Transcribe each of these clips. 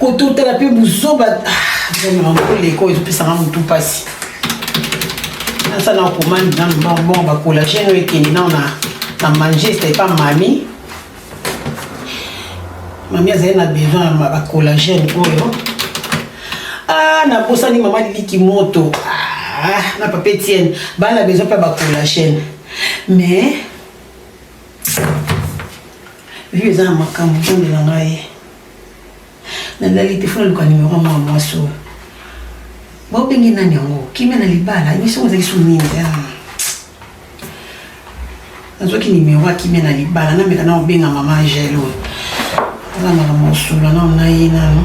kototala mpe buzoba ah, koleka oyo ezopesaka motu mpasi asa na komandi nanu bongo bakolagene oyo ekende nao na manchester epa mami mami azali na besoin ya bakolagene oyo ah, nabosani mama liliki moto ah, na papa etienne bana besoin mpe bakolagene mais Vieux eza na makambo nzambe na ngai nalali te fona luka nimero mwa mwasi oyo baobenge nani yango kimia na libala emission yango ezalaki so nini nazwaki nimero ya kimia na libala nameka na obenga mama angele oyo aza makambo osula nao na ye nano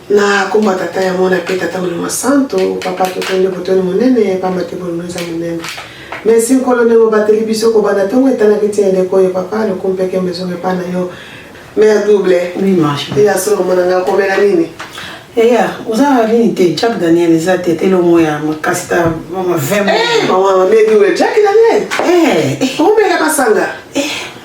Na kombo ya Tata ya Mwana mpe Tata Molimo Santo, Papa totonde botoni monene pamba te bolingo eza monene. Merci Nkolo ndenge obateli biso kobanda ntongo etanaki ntina ndeko oyo papa lokumu mpe kembe ezonga epai na yo. Mère double. Oui, ma chérie. Ya solo mwana ngai akomela nini? Yaya, oza nini te Jack Daniel eza te te lomo ya makasi ta mama 20 Eh, maman, mère double, Jack Daniel. Eh, eh. Omelaka sanga. Eh.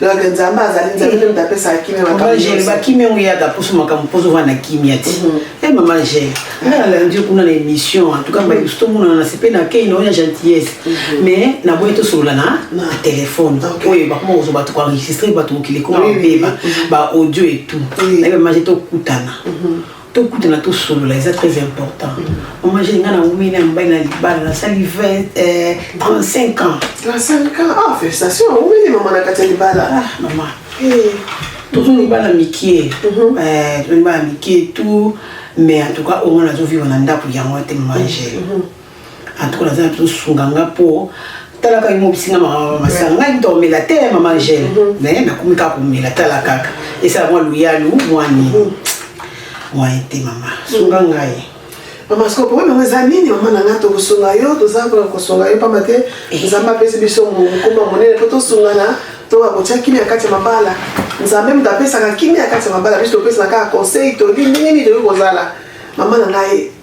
donc nzambe azali nzambe nde moto apesaka kimia makambo bakimia yango eyaka mposo makambo mposo ova na kimia ti mhm. e eh, mama gel nga nalandi yo kuna na émission en tout cas mbaye mosusu tomonana na sepe na kei na oyo na gentillesse mhm. mais naboyi tosolola na na telefone oyo bakoma kozwa bato koenregistre bato mokili ekoma babeba mhm. baaudio etout naye mama gel tokutana tokutana tosolola eza très important mama jeni ngai naumeli na mobali na libala nasali 35 ans 35 ans ah félicitation aumeli mama na kati ya libala ah, mama eh. tozo libala mikie mhm. eh, tozo libala mikie tout mais en tout cas omona nazovivre na ndako yango te mama jeni mhm. en tout cas naza nazo sunga nga po tala kaka emobisi nga mama masanga ngai kuta omela te mama angele me mhm. nakomi kaka komela tala kaka esala mwa luyalu mwa nini mwaye te mama sunga mhm. ngai mama siko problème yango eza nini mama na ngai tokosunga yo toza mpona kosunga yo mpamba te eh. nzambe apesi biso mokumba monene mpo tosungana to akotia kimia kati ya mabala nzambe moto apesaka kimia kati ya mabala biso topesaka kaka conseil toli ndenge nini tokoki kozala mama na ngai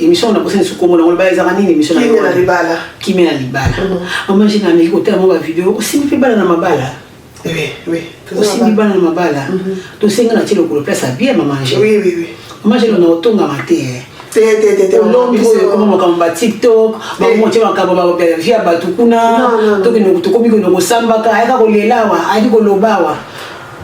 emission wana kosa lisusu komona ngo libala ezaka nini emission kimia na libala kimia na libala mama jina ameki kotala mo bavideo osimbi mpe bana na mabala osimbi bana na mabala mhm. tosenga na ti lokolo place abie mama je mama je lona otongama te eh. olombi oyo ekoma makambo ba tiktok bamotie eh. makambo bavia bato kuna tokende tokomi kende kosambaka ayaka kolelawa ayaki kolobawa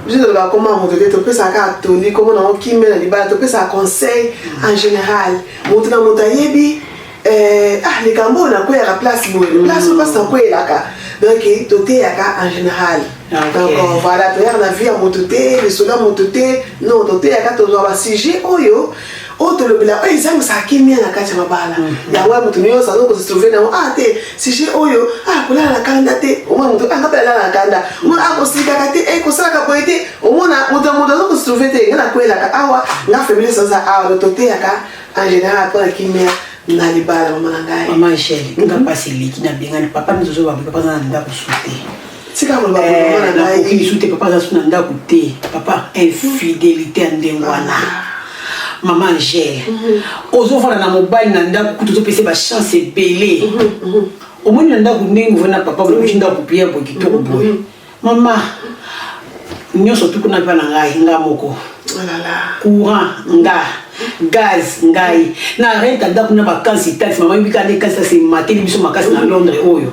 biso tolobaka koma moto te topesaka kaka toli komo nango kimbe na libala topesaka conseil en général moto na moto ayebi eh, ah likambo oyo nakweyaka place boye mm. place oyo place nakweyelaka donc toteyaka en général ah, donc euh, voilà toyaka na vie ya moto te lisolo ya moto te non toteyaka tozwa basujet oyo oyo tolobela oyo ezangisaka kimia na kati ya mabala mhm. yango ya moto nyonso azo kosetrove nango a ah, te sujet oyo a ah, kolala na kanda te omona moto anga ah, mpe alala na kanda mona akosikaka te e kosalaka boye te omona moto ya moto azo kosetrove te nga nakwelaka awa nga femilis aza awa to toteyaka en général mpo na kimia na libala mama na ngai mama angele nga mpasi eleki nabengani papa mizozo babi papa aza na ndako sute tika koloba kolongo na ngai nakoki lisusu te papa aza su na ndako te papa infidelité ya ndenge wana mama angele ozofanda na mobali na ndako kutu ozopesa bachance ebele omoni na ndako ndenge ovandi na papa olobisi ndako pia boye kitoko boye mama nyonso tuku na mpa na ngai nga moko courant nga gaz ngai na renta ndako na bakansi taxi mama yebika nde kasi taxi emateli biso makasi na londres oyo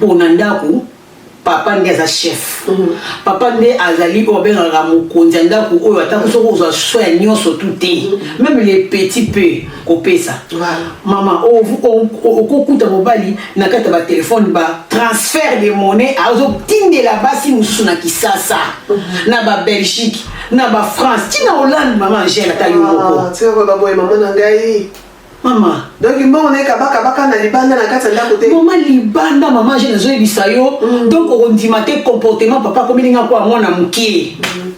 pona ndaku papa nde aza chef mhm. papa nde azali oyo abengaka mokonzi ya ndako oyo atako mhm. soki ozwa so ya nyonso tu te mhm. meme le petit peu kopesa mama okokuta mobali na kati ya batelefone ba transfert de monnaie azotindela basi mosusu na kisasa na babelgique na bafrance ntina hollande mama angele ata yo moko ah, Mama. Donc mbongo na ye kaba kaba kaka na libanda na kati ya ndako te. Mama libanda mama je nazo yebisa yo mm. donc okondima te comportement papa akomeli nga kwa mwana mokie. Mm.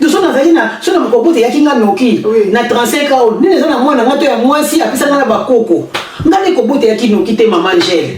Donc soki nazali na soki na mokobota eyaki nga noki oui. na 35 ans nini eza na mwana nga to ya mwasi apesa nga na bakoko nga nde kobota eyaki noki te mama Angèle.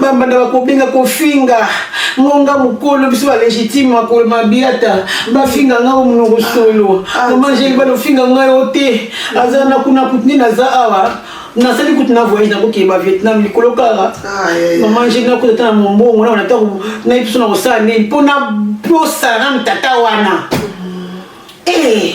bambanda bakobenga kofinga ngonga mokolo biso balegitime makolo mabiata bafinga ngai o monoko solo ah, ah, mama angeli balofinga ngai o te aza na kuna kutini naza awa nasali kutu na voyage nakokeba vietnam likolo kaka ah, mama angeli nakuta ata na mombongo naona ata nayi biso na kosala nini mpo na mpo saram tata wana mm. eh,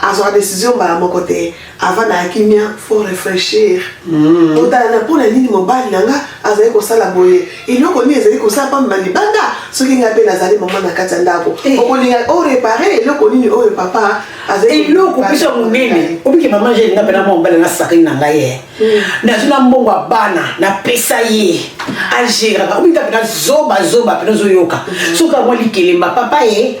azwaka decision mbala moko te avandaka kimia fo réfléchir mm. otala na mpona nini mobali na nga azali kosala boye eloko nini ezali kosala mpamba libanda soki ngai mpe nazali mama na kati ya ndako eh. okolinga orepare oh, eloko nini oyo oh, papa eloko biso ya monene obiki mama jeli nga mpena mwa mobali nasakani na ngai ye mm. nazwi na mbongo ya bana napesa ye ageraka obiki nga mpena zoba zoba mpena ozoyoka mm. soki amwa likelemba papa ye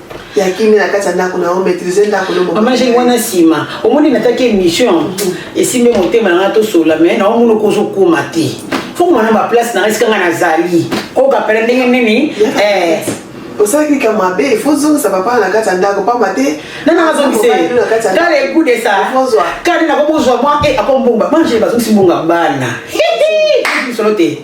ya kimia na kati ya ndako na yo maîtrise ndako no mama jeni wana nsima omoni nataki émission mhm. esimbi motema na ngai tosola mai na omoni okoki ozokoma te fokoma na baplace na ngai esika ngai nazali kokapela ndenge nini eh. osalaki likambo mabe ifo ozongisa papa na kati ya ndako pamba te nanazongisatala ekudesa kani nakokozwa mwa e eh, akombumba manje bazongisi mbonga bana solo te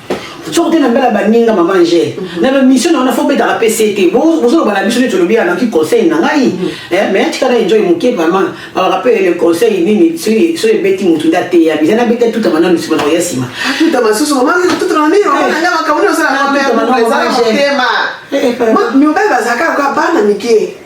soki te na mbela baninga mama angele mhm. na bamission na wana fo betaka pese te bozoloba na biso neti olobi ya naki conseil na ngai mhm. eh, mais atika na enjoy moke vraiment alaka mpe le conseil nini soki ebeti motu nde ateya biza na beta tutama nanu nsima na koya nsima tutama susu mamatutama nini omananga makambo niosalaa motema mibali bazalaka kaka bana mike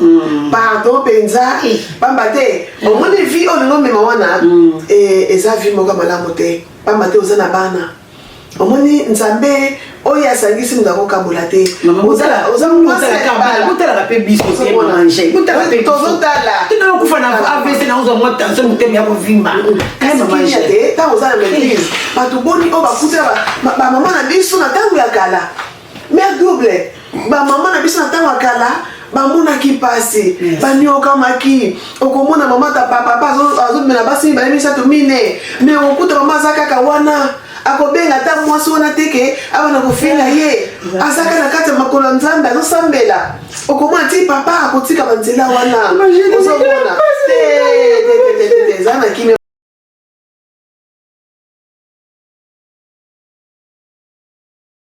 Mm. pardon mpenza mpamba mm. te omoni vi oyo olingi omema wana mm. e, eza vi moko malamu te mpamba te oza na bana omoni nzambe oyo asangisi moto akokabola te botalaka mpe bisotozotalaaokufa na avc naozwa mwa tension motema ya kovimba te ntango oza na maitrise bato boni oyo bakutela bamama na biso na ntango ya kala mère double bamama na biso na ntango ya kala bamonaki mpasi baniokamaki okomona mama ta papa azomela basi mibale misato mine me okokuta mama aza kaka wana akobenga ata mwasi wana te ke awa na kofinga ye azaka na kati ya makolo ya nzambe azosambela okomona ti papa akotika banzela wana ozomona eza na kimia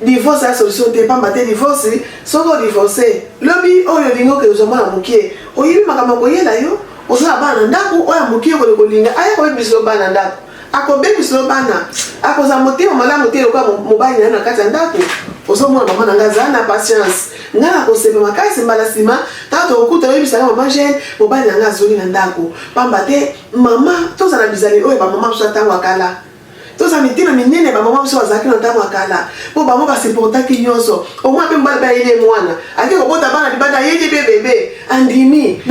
Divorce ya solution te pamba te divorce soko divorce lobi oyo olingi okende ozwa mwana mokie oyebi makambo akoyela yo oza na bana na ndako oyo amokie okende kolinga aya kobebisa yo bana na ndako akobebisa yo bana akozala motema malamu te lokola mobali na yo na kati ya ndako ozomona mama na ngai azala na patience ngai nakosepa makasi mbala nsima ntango tokokuta oyebisa ngai mama gene mobali na ngai azongi na ndako pamba te mama tozala bizali oyo bamama mosusu ntango akala tozala mitina minene bamama biso bazalaki na ntango ya kala mpo bango basiportaki nyonso omwa mpe mobali bayeli ye mwana ake kobota bana libanda ayeli mpe bebe andimi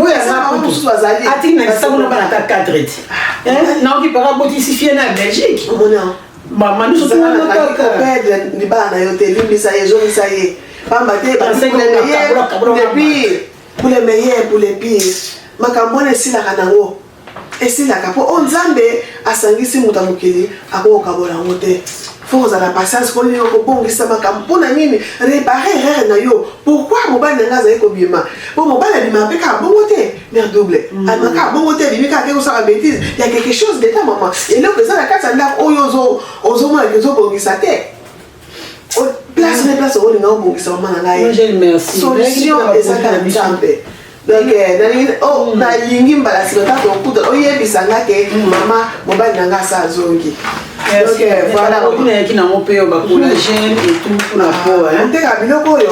mosusu bazali atiki na kisango na bana ata 4 eti ah, eh, naoki paka botisi fie na belgique mama nyonso tozalakakopede libala na yo te limbisa ye ezongisa ye pamba te baepuis pour le meilleur pour le pire makambo wana esilaka nango esilaka mpo oyo nzambe asangisi moto ya mokili akokokabola yango te fo kozala patience mpo nini okobongisa makambo mpo na nini repare erreur na yo pourkui mobali na ngai azali kobima mpo mobali abimaka mpe kaka bongo te mare double mm. abima kaka bongo te abimi kaka te kosala betise ya quelque chose deta mama eloko eza na kati ya ndako oyo ozomona ke ozobongisa te place na place olinga obongisa mama na ngai solution eza kaka nzambe donc eh, nalingi oh, mm. nalingi mbala nsima ntango okuta oyebisa nga ke mm. mama mobali na nga asa azongi oyaki nango mpe bakolagene etout mpona po oteka biloko oyo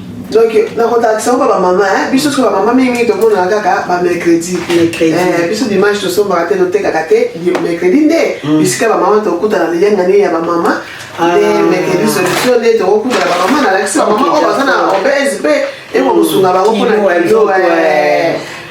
donc nakotalakisa oba bamama biso soki bamama mingimingi tomonaka kaka bamercredi eh, biso dimanche tosombaka te totekaka te mercredi nde mm. bisika bamama tokutana liyangani ya bamama ah. nde mercredi solution nde tokokutana bamama nalakisi bamama oyo baza na obese mpe ekokosunga bango mpona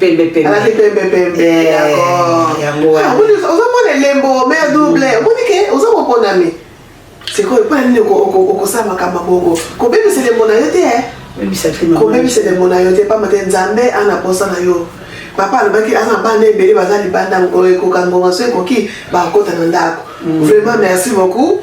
pembe pembe alati pembe pembe eh, d'accord yango ah, wana oza mwana elembo mère double omoni ke oza moponami sikoyo mpo na nini okosala makambo bongo kobebisa elembo na yo te eh? kobebisa elembo na yo te mpamba te nzambe ana posa na yo papa alobaki aza na bana ebele baza libanda ekoka ngonga so ekoki bakota na ndako mm. vraiment merci beaucoup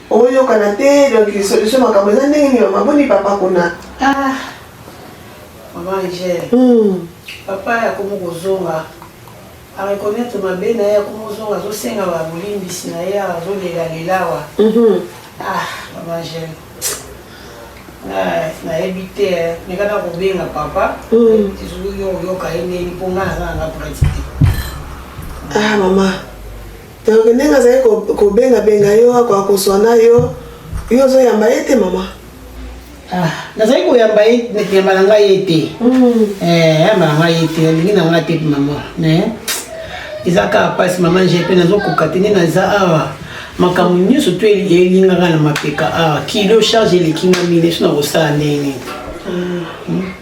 oyokana te donc solution makambo eza ndenge nini mama boni papa kuna ah mama rigel hmm. papa yakomi kozonga areconnaitre mabe na ye yakomi kozonga azosenga babolimbisi na ye azolela lelawa mhm. ah mama rigel nayebi te eh. mekana kobenga papa hmm. soki yo oyoka ye ndeni mpo ngai naza nanga pratique ah mama Donc ndenge azali kobengabenga ko yo akoka kozwa na yo yo ozoyamba ye te mama ah, nazali koyamba ye yamba na ngai ye te hmm. eh, yamba na ngai ye te nalingi na ngai te mama eza kaka mpasi mama nje mpe nazokoka te nde naza awa makambo nyonso to elingaka na mapeka awa kilo charge eleki nga mine so nakosala ndenge nini hmm.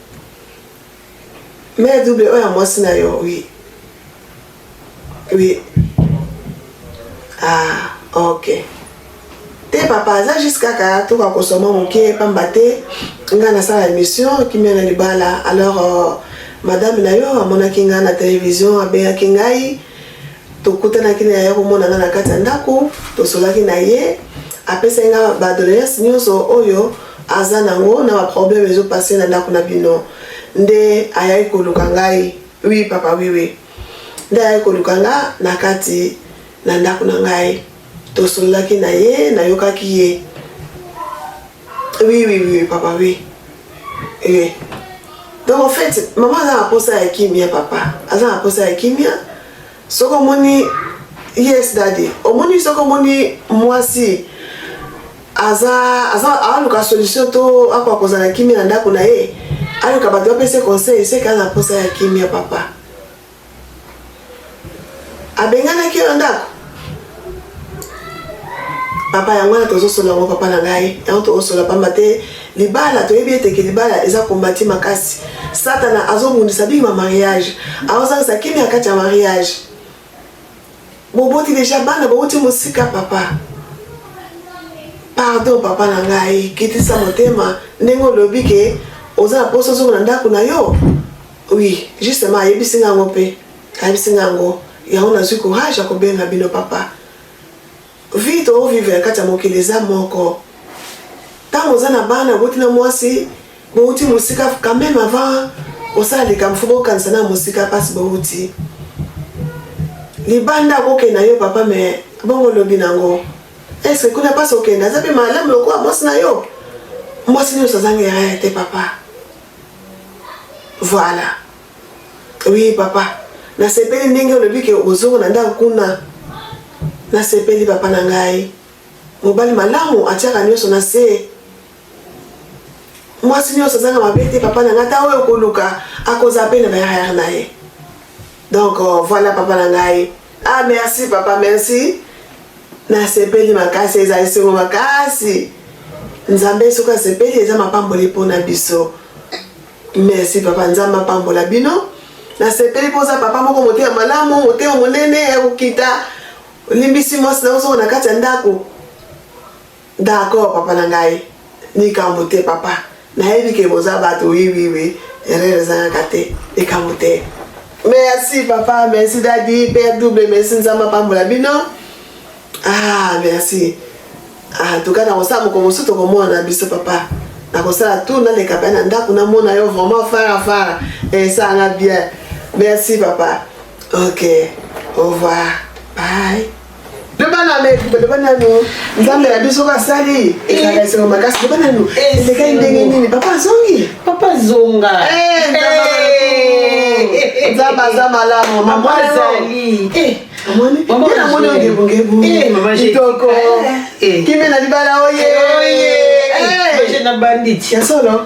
Mère double oyo ya mwasi na yo oui. Oui. Ah, ok. Te papa aza juste kaka toka kosoma moke pamba te ngai nasala émission kimia na libala alors euh, madame na yo amonaki ngai na télévision abengaki ngai tokutanaki na ye komona nga na kati ya ndako tosolaki na ye apesaki nga badoleance nyonso oyo aza nango na baproblème ezopase na ndako na bino nde ayaki koluka ngai wi papa wiwi nde ayaki koluka nga na kati na ndako na ngai tosololaki na ye nayokaki ye Oui, oui, oui, papa, oui. Oui. Donc en fait, maman aza na posa ya kimia papa. Aza na posa ya kimia. Soko omoni yes daddy. Omoni soko omoni mwasi aza aza aluka solution to ako akozala kimia na ndako na ye. Aluka bato bapese conseil, seka na posa ya kimia papa. abenganaki yo na ndako papa yango wana tozosola yango papa na ngai yango tokosola pamba te libala toyebi eteke libala eza kombati makasi satana azobundisa bima mariage aozangisa kimi ya kati ya mariage boboti deja bana bouti mosika papa pardon papa na ngai kitisa motema ndenge olobi ke oza na mposa ozonga na ndako na yo Oui, justement ayebisi nga yango mpe ayebisi nga yango yango nazwi courage ya kobenga bino papa vie toovivre na kati ya mokili eza moko ntango oza na bana oboti na mwasi bouti mosika quand même avant osala likambo fo bokanisa na mosika mpasi bouti libanda akokenda yo papa me bongo olobi nango eske kuna mpasi okenda aza mpe malamu lokola mwasi na yo mwasi nyonso azangi erreur te papa Voilà. Oui papa, nasepeli ndenge olobi ke ozongo na ndako kuna. Nasepeli papa na ngai. Mobali malamu atiaka nyonso na se. Mwasi nyonso azanga mabe te papa na ngai, ata oyo okoluka akoza pe na baerreur na ye. Donc euh, voilà papa na ngai. Ah merci papa merci. Nasepeli makasi eza esengo makasi. Nzambe soki asepeli eza mapamboli mpo na biso. Merci papa Nzambe apambola bino. Nasepeli mpo oza papa moko motema malamu, motema monene ya kokita. Olimbisi mwasi na ozo na kati ya ndako. D'accord papa na ngai likambo te papa nayebi ke boza bato oui oui oui erreur ezangaka te likambo te merci papa merci dadi père double merci nzambe apambola bino ah merci ah tuka nakosala moko mosusu tokomona na biso papa nakosala tour naleka mpe na ndako namona yo vraiment fara fara esanga bien merci papa ok au revoir bye loba na leki loba nanu nzambe na biso oyo asali ezalaka esengo makasi loba nanu elekaki ndenge nini papa azongi papa zonga nzambe aza malamu mama azali amoni amoni ongebongebu kitoko kimbe na libala oye na banditi ya solo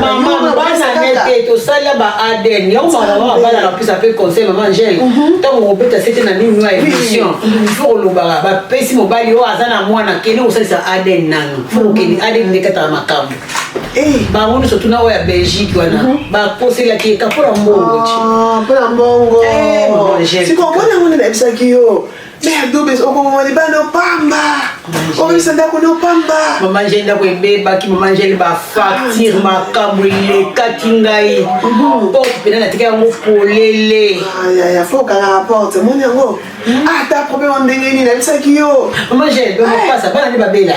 mama bana nete tosala ba adn yango makamama abana napesa mpe conseil mama angele ntango mhm. obeta sete na nini ya émission mhm. fo kolobaka bapesi mobali oyo aza na mwana kende kosalisa adn nano fo kokende adn nde kataka makambo eh. bango nyonso tuna oyo ya belgique wana mhm. baposelaki eka mpo na mbongo ah, mpo na mbongo eh, sikoyo mpo na yango nde nayebisaki yo Mais ya dobe okoboma libanda opamba obebisa ndako nde opamba mama angele ndako ebebaki mama angele bafacture makambo elekaki ngai porte mpena natika yango polele yaya fo okangaka porte moni yango ata problème ndenge nini nayebisaki yo mama angele bemapasa bana nde babela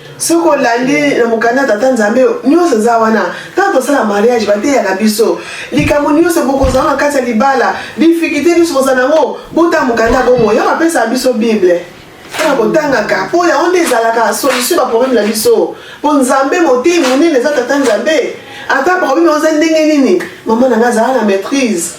soki olandi na mokanda ya tata nzambe nyonso eza wana ntango tosala mariage bateyaka biso likambo nyonso bokozala na kati ya libala difikite nyonso kozala yango botala mokanda ya bomoi yango apesaka biso bible mpona kotangaka mpo yango nde ezalaka solution baproblème na biso mpo nzambe motei monene eza tata nzambe ata problème yango eza ndenge nini mama na ngai azala na maîtrise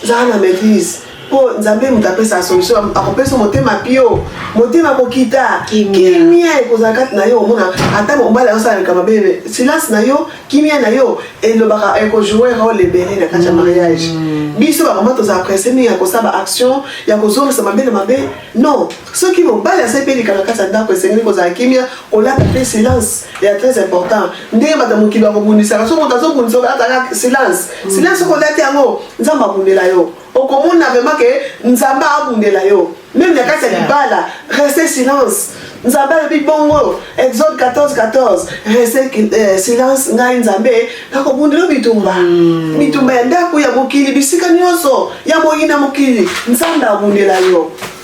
zala na maîtrise mpo nzambe moto apesaka solution akopesa motema pio motema kokita kimia ekozala kati na yo omona ata mobali aosalaka mabe silence na yo kimia na yo elobaka ekojoue role ebele na kati ya mariage mm. biso bamama tozala presse mingi ya kosala baaction ya kozongisa mabe na mabe non soki mobali asali mpe likambo na kati ya ndako esengeli kozala kimia kolata mpe silence ya très important ndenge bato ya mokili bakobundisaka so moto azobundisa olataka silence mm. silence okolati yango nzambe abundela yo okomona vraiment ke nzambe abundela yo meme na kati ya libala reste silence nzambe alobi bongo exode 14 14 reste eh, silence ngai nzambe nakobundela bitumba mm. bitumba ya ndako ya mokili bisika nyonso ya moyina mokili nzambe abundela yo